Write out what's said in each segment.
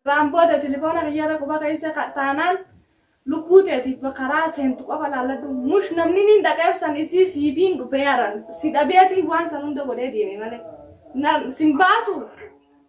Irraan booda tilifoona kiyya irra quba keessa ka, taanaan lubbuu teetiif ba, karaa seentu qofa laalladhu mush namni niin dhaqeef san isii siifiin dhufee aran si dhabeetii waan san hunda godhee deeme malee na, sin baasu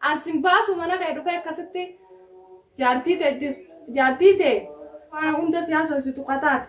an sin baasu mana kee dhufee akkasitti jaartii tee ajjeestu jaartii tee waan hunda si haasofsitu ka taate.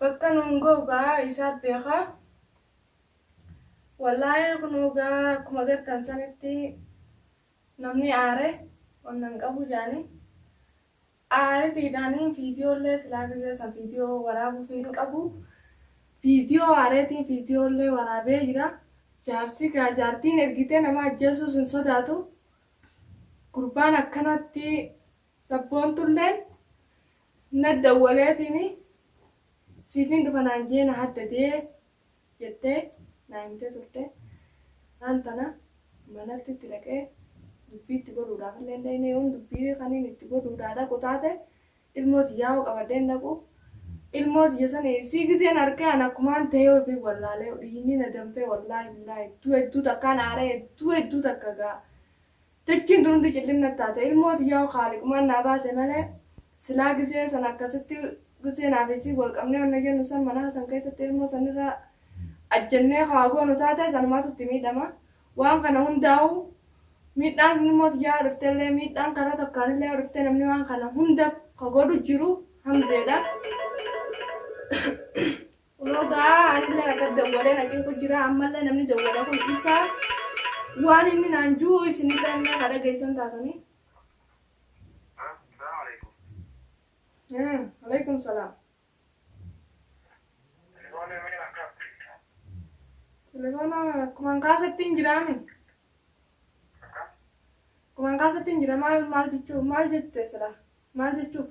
Bakka nuun gahu gaa isaat beeka. Wallaahi kunoo gaa akkuma gartan sanitti namni aare wanna hin qabu jaanii. Aaritiidhaan viidiyoollee silaa gizee san viidiyoo waraabuuf hin qabu. Viidiyoo aareetiin viidiyoollee waraabee jira. Jaarsi gaa jaartiin ergitee nama ajjeesuus hin sodaatu. Gurbaan akkanatti Sabboontulleen na dawwaleetiin siifin dhufa naan jee na haddadee jettee naa himtee turte. Har'aan tana manatti itti dhaqee dubbii itti godhuudhaafillee hin dhayne yoon dubbii kaniin itti godhuudhaa dhaqu taate ilmoo tiyyaa hoo qabadhee hin dhaqu. Ilmoo tiyya sani sii gizeen arkee an akkumaan ta'ee ofiin wallaalee dhiinni na danfee wallaahi billaahi hedduu hedduu takkaan aaree hedduu hedduu takka gaa Dachiin tun hundi cillim natti taate. Ilmoo tiyya hoo Khaaliqumaan naa baase malee silaa gisee san akkasitti gisee naa fi isiin wal qabnee wanna jennu san manaa san keessatti ilmoo san irra ajjennee ka waa goonu taate sanumaatu itti miidhama. Waan kana hundaa'uu miidhaan tun ilmoo tiyyaa yoo dhufte illee miidhaan karaa takkaan illee yoo dhufte namni waan kana hunda ka godhu jiru Hamzeedha. Kunoo gaa anillee har'a dawwalee na cinqu jira ammallee namni dawwala kun isa waan inni naan jiru isinillee illee ka dhageessan taatanii. Hmm, Alaikum salaam. Telefoona akkumaan kaasatti hin jiraame. Akkumaan kaasatti hin jira maal maal jechuu maal jette sila maal jechuuf.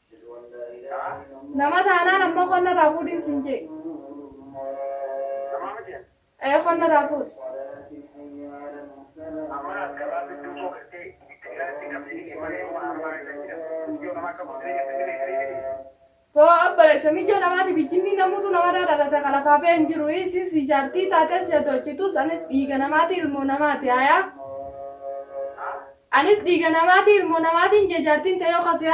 Nama taanaan ammoo qonna irraa fuudhiin siin jee. Ee qonna irraa fuudhi. Boo abbala isa miyyoo namaati bijjinni namuutu namarraa dhalata ka lafaa ba'e hin jiru isin si jaartii taatee si hatolchitus anis dhiiga namaati ilmoo namaati hayaa. Anis dhiiga namaati ilmoo namaatiin jee jaartiin ta'ee yoo kasi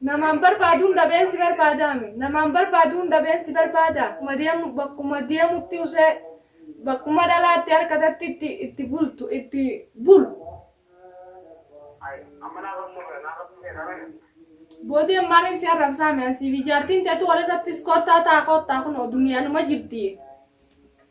Namaan barbaaduun dhabeen si barbaadaami. Namaan barbaaduun dhabeen si barbaada. Bakkuma deemutti usee bakkuma dhalaa itti harkatatti itti bultu itti bulu. Boodeen maaliin si arrabsaame ansiifi jaartiin teetu walirratti iskortaa ta'a koottaa kunoo duniyaanuma jirti.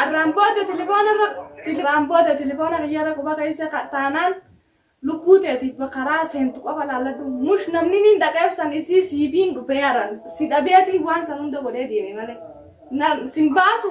Arraan booda tilifoona irra arraan booda tilifoona kiyya irra quba keessa ka- taanaan lubbuu teetiif karaa seentu qofa laalladhu mush namni niin dhaqeebsan isii siifiin dhufee aran si dhabeetii waan san hunda godhee deeme malee Na- sin baasu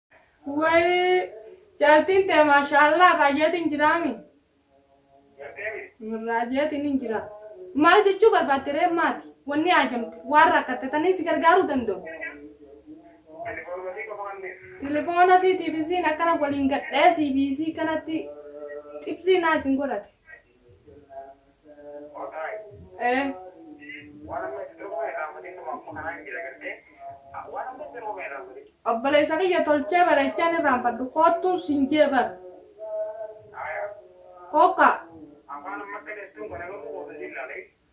Wayii jaartiin tee maashaallah raayyatiin jiraami. Raayyatiin hin jira. Maal jechuu barbaadde ree maati? Wanni haajamte waan rakkatte tanii si gargaaruu danda'u. Telefoona siitiif isiin akkana waliin gadhee siifi isii kanatti xibsii naa isin godhate. Obboleessa kiyya tolchee bareechaa ni raanfadhu koottuu sin jee bar. Hookaa.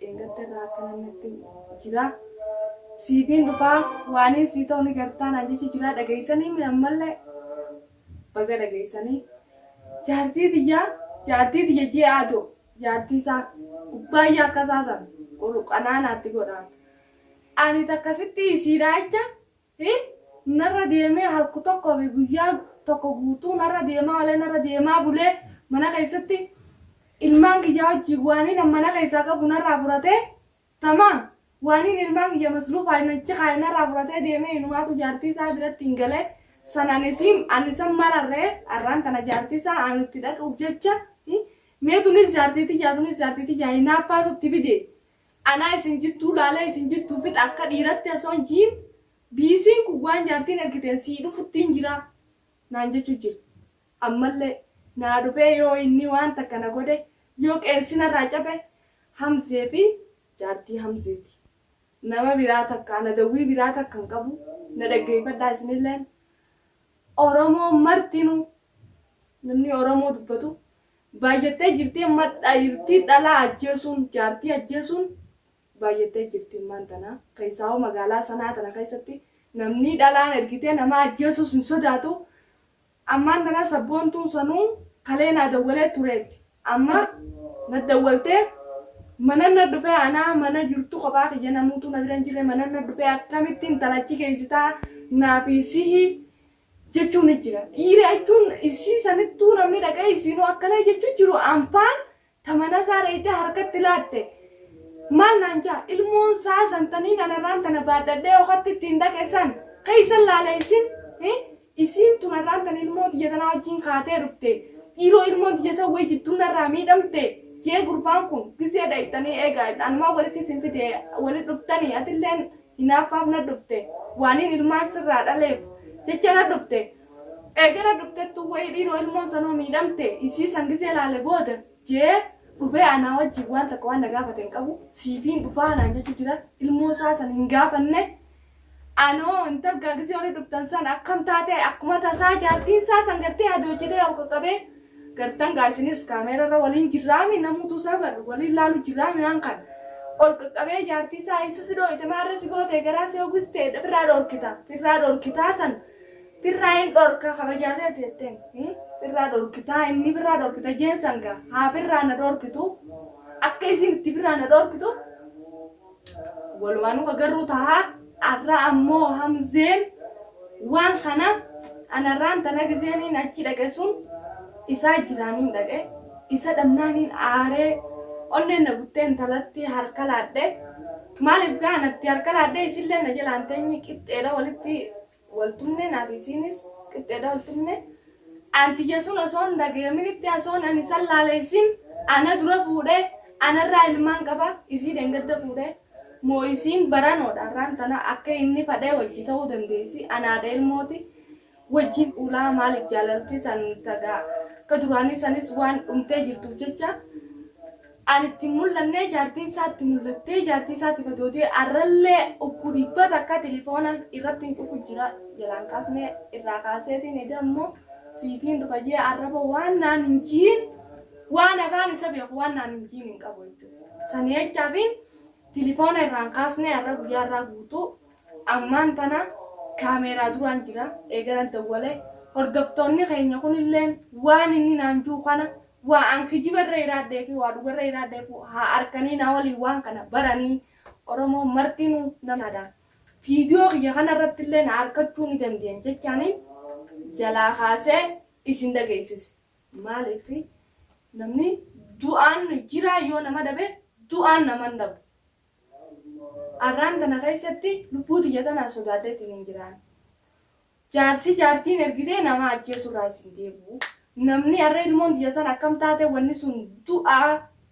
Dheengadda irraa akkanan natti jira. Siifiin dhufaa waaniin sii ta'u ni gartaa naan jechu jira dhageessanii mi ammallee baga dhageessanii. Jaartii tiyyaa jaartii tiyya ji'a adoo jaartii isaa kubbaayyaa akka isaa san qurqanaa naatti godhaan. Ani takka sitti isiidhaa jecha Hi narra deemee halku tokko fi guyyaa tokko guutuu narra deemaa olee narra deemaa bulee mana keessatti ilmaan kiyya wajjiin waaniin an mana keessaa qabu narraa furatee tamaam waaniin ilmaan kiyya masruufaaf hin achi kaa'e narraa furatee deemee inumaatu jaartii isaa biratti hin gale san an isiin an isan mararree arraan tana jaartii isaa an itti dhaquuf jecha hi mee tunis jaartii tiyyaa tunis jaartii tiyyaa hinaaffaatu itti fide Anaa isin jittuu laalee isin jittuu fixa akka dhiiratti osoo hin jiin biisiin kun waan jaartiin ergiteen sii dhufuttiin jiraa naan jechuu jira. Ammallee naa dhufee yoo inni waan takka na godhe yoo qeensi narraa cabe Hamzee fi jaartii Hamzeeti. Nama biraa takka ana dawwii biraa takka hin qabu na dhaggeeyfadhaa isinilleen Oromoon martinuu namni Oromoo dubbatu Baayyattee jirti amma dhairtii dhalaa ajjeesuun jaartii ajjeesuun baayyattee jirti ammaan tana keessaahuu magaalaa sanaa tana keessatti namnii dhalaan ergitee namaa ajjeesuus hin sodaatu ammaan tana sabboontuun sanuu kalee naa dawwalee tureetti amma na dawwaltee manan na dhufee anaa mana jirtu kophaa kiyya namuutuu na bira hin jirre manan na dhufee akkamitti intala achi geessitaa naafii sihi jechuu ni jira dhiira jechuun isii sanittuu namni dhaqee isiinoo akkana jechuu jiru anfaan tamana isaa dheeyxee harkatti laatte maal naan jaa ilmoon isaa santanii nanarraan tana baadhadhee okatti ittiin dhaqe san keeysan laale isin isiin tun arraan tana ilmoo tiyya tanaa wajjiin kaatee dhufte dhiiroo ilmoon tiyya san wayii jidduu narraa miidhamte jee gurbaan kun gizee dhayxanii eegaa anumaa walitti isin fide walit dhuftanii atilleen Hinaaffaaf na dhufte, waanin ilmaan sirraa dhaleef jecha na dhufte. Eega na dhuftettuu wayii dhiiroo ilmoon sanoo miidhamte isii san gizee laale booda je'ee dhufee anaa wajjiin waan takka waan na gaafate hin qabu siifiin dhufaa naan jechu jira ilmoo isaa san hin gaafanne anoo intal gaa gizee warri dhuftan san akkam taate akkuma tasaa jaartiin isaa san gartee hadoochitee ol qaqqabee Gartan gaa isinis camera irra waliin jirraami namuutu isaa bar waliin laalu jirraami waan kan ol qaqqabee jaartii isaa isa si dhooyte maarra si goote garaa si hogiste firraa dhorkita firraa dhorkitaa san firraa hin dhorka kabajaatee ati jetteen firraa dhorkitaa inni firraa dhorkita jeen san gaa haa firraa na dhorkitu akka isiin itti firraa na dhorkitu walumaanuu agarruu tahaa arra ammoo hamzeen waan kana anarraan tana gizeeniin achi dhaqe sun isaa jiraaniin dhaqe isa dhabnaaniin aaree onneen na guttee intalatti harka laadhe maaliif gaanatti harka laadhe isillee na jalaan teenye qixxeedha walitti Waltumnee naa fi isiinis qixxeedha waltumnee anti yesuun osoo hin dhagayaminitti asoon ani isan laale isiin ana dura fuudhe anarraa ilmaan qaba isii dhengadda fuudhe moo isiin baranoodha arraan tana akka inni fadhee wajjii ta'uu dandeessi ana haadha ilmooti wajjiin dhuulaa maaliif jaalalti tan taga akka duraanii sanis waan dhumtee jirtuuf jecha an itti hin mul'annee jaartiin isaa itti mul'attee jaartii isaatiif adootee arrallee ukkuu dhibba takka tilifoona irratti hin cufu jira jalaan kaasnee irraa kaaseetiin eda immoo siifiin dhufayyee arraba waan naan hin jiin waan afaan isa beeku waan naan hin jiin hin qabu jechuudha. Sanii jechaafiin tilifoona irraan kaasnee arra guyyaa irraa guutuu ammaan tana kaameeraa duraan jira eegalan dawwalee hordoftoonni keenya kunilleen waan inni naan juu kana Waa an kijiba irra iraadde fi waa dhuga irra iraadde fu haa arkanii naa waliin waan kana baranii Oromoo martinuu nan yaada. Viidiyoo kiyya kana irratti illee na arkachuu ni dandeyan jechaanii jalaa kaasee isin dhageessise. Maaliif namni du'aan jiraa yoo nama dhabe du'aan nama hin dhabu. Arraan tana keessatti lubbuu tiyya tanaan sodaadhee ittiin hin jiraanne. Jaarsi jaartiin ergitee nama ajjeesuu irraa isin deebi'u. Namni arra ilmoon tiyya san akkam taate wanni sun du'a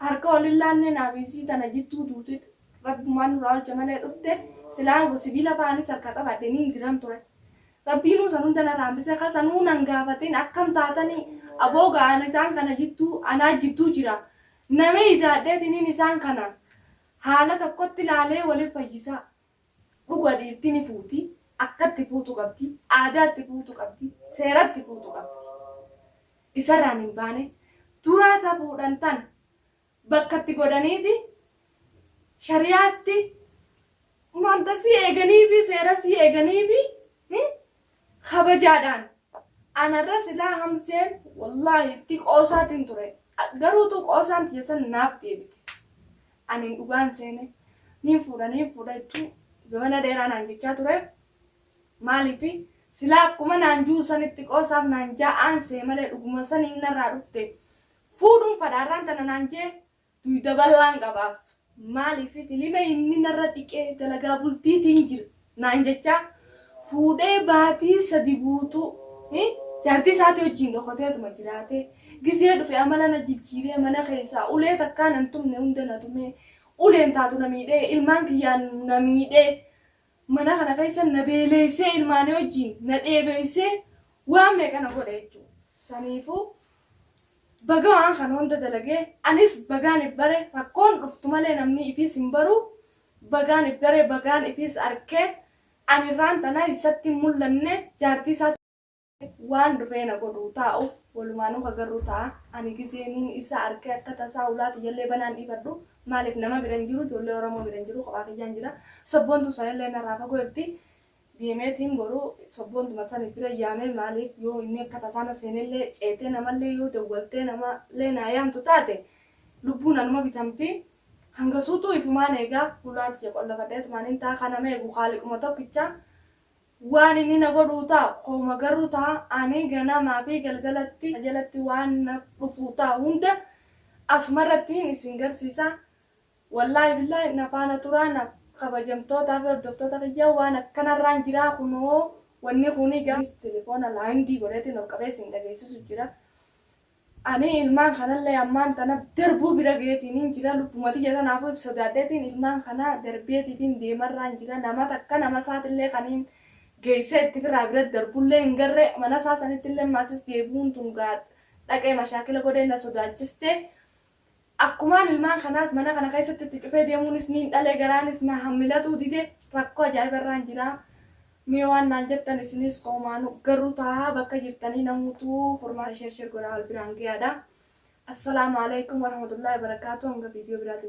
harka wal hin laannee naa fi isii tana jidduu duuti Rabbumaan nurraa oolche malee dhufte silaa sibiila fa'aa anis harkaa qabaadhee niin diran ture. Rabbiinuu san hunda narraa hambisee ka sanuu nan gaafatin akkam taatanii aboo gaa ani isaan kana jidduu anaa jidduu jira Nami idaad'eetiniin isaan kana haala tokkotti laalee wol hin fayyisaa. Dhuga dhiirti ni fuuti, akka itti fuutu qabdi, aadaa itti fuutu qabdi, seera itti fuutu qabdi. Isa irraan hin baane. Duraa ta fuudhan tan bakka itti godhaniiti shari'aasti, manta isii eeganiifi, seera isii eeganiifi, kabajaadhaan anarra silaa hamzeen wallaahi itti qoosaatiin ture garuu tuu qoosaan tiyya san naaf deebite aniin dhugaan seene niin fuudha niin fuudha jechuu zamana dheeraa naan jechaa ture maaliif silaa akkuma naan juu sanitti qoosaaf naan jaa aansee malee dhuguma saniin narraa dhufte fuudhuun fadhaarraan tana naan jee Duyda bal'aan qabaaf. Maaliif filima inni narra dhiqee dalagaa bultiitiin jira naan jechaa fuudhee baatii sadi guutuu jaartii isaatii wajjiin dhokoteetuma jiraatee gizee dhufe amala na jijjiiree mana keessaa ulee takkaa nan tumne hunda na tumee uleen taatu na miidhee ilmaan kiyyaan na miidhee Mana kana keessa na beeleessee ilmaanii wajjiin na dheebeessee waan meeqa na godhe jechuudha. Saniifuu baga waan kana hunda dalagee anis bagaan if bare rakkoon dhuftu malee namni ifiis hin baru bagaan if bare bagaan ifiis arke ani irraan tana isatti hin mul'anne jaartii isaa Waan dhufee na godhuu taa'u walumaanuu ka garru ta'a. Ani gizee niin isa arke akka tasaa ulaa tiyyallee banaan dhiifadhu. Maaliif nama bira hin jiru ijoollee Oromoo bira hin jiru kophaa kiyyaan jira. Sabboontuu sanillee narraa fagoo jirti. Deemeetiin boru sabboontuma san bira yaamee maaliif yoo inni akka tasaa na seenellee ceetee namallee yoo dawwaltee namallee naa yaamtu taate lubbuun anuma bitamti. Hangasuutuu ifumaan eegaa ulaa tiyya qollafadheetumaanin taa'a ka nama eegu khaaliquma tokkicha. Waan inni na godhuu ta, u ma garru ta, ani ganamaa fi galgalatti na jalatti waan na dhufuu ta, u hunda asumarrattiin isin garsiisa wallahi billahi na faana turaa na kabajamtootaa fi hordoftoota kiyya waan akkanarraan jiraa kunoo wanni kuni ga, anis telefoona laindii godheetiin ol qabee isin dhageessisu jira Ani ilmaan kanallee ammaan tana darbuu bira gaheetiinin jira. Lubbuma tiyya tanaafuu if sodaadheetiin ilmaan kana darbeetiitiin deemarraan jira. Nama takka nama isaatillee kaniin geessee itti firaa bira darbullee hin garre. Mana isaa sanittillee maasis deebi'uun tun gaa dhaqee mashaakila godhee na sodaachiste. Akkumaan ilmaan kanaas mana kana keessatti itti cufee deemuunis niin dhale garaanis na hammilatuu dide rakkoo ajaa'iba irraan jira mee waan naan jettan isinis qoomaanu garruu taahaa bakka jirtanii namuutuu furmaata sher sher godhaa wal biraan gayaadha Assalamu Alaikum Warahmatullahi Wabarakatuh hanga video biraatii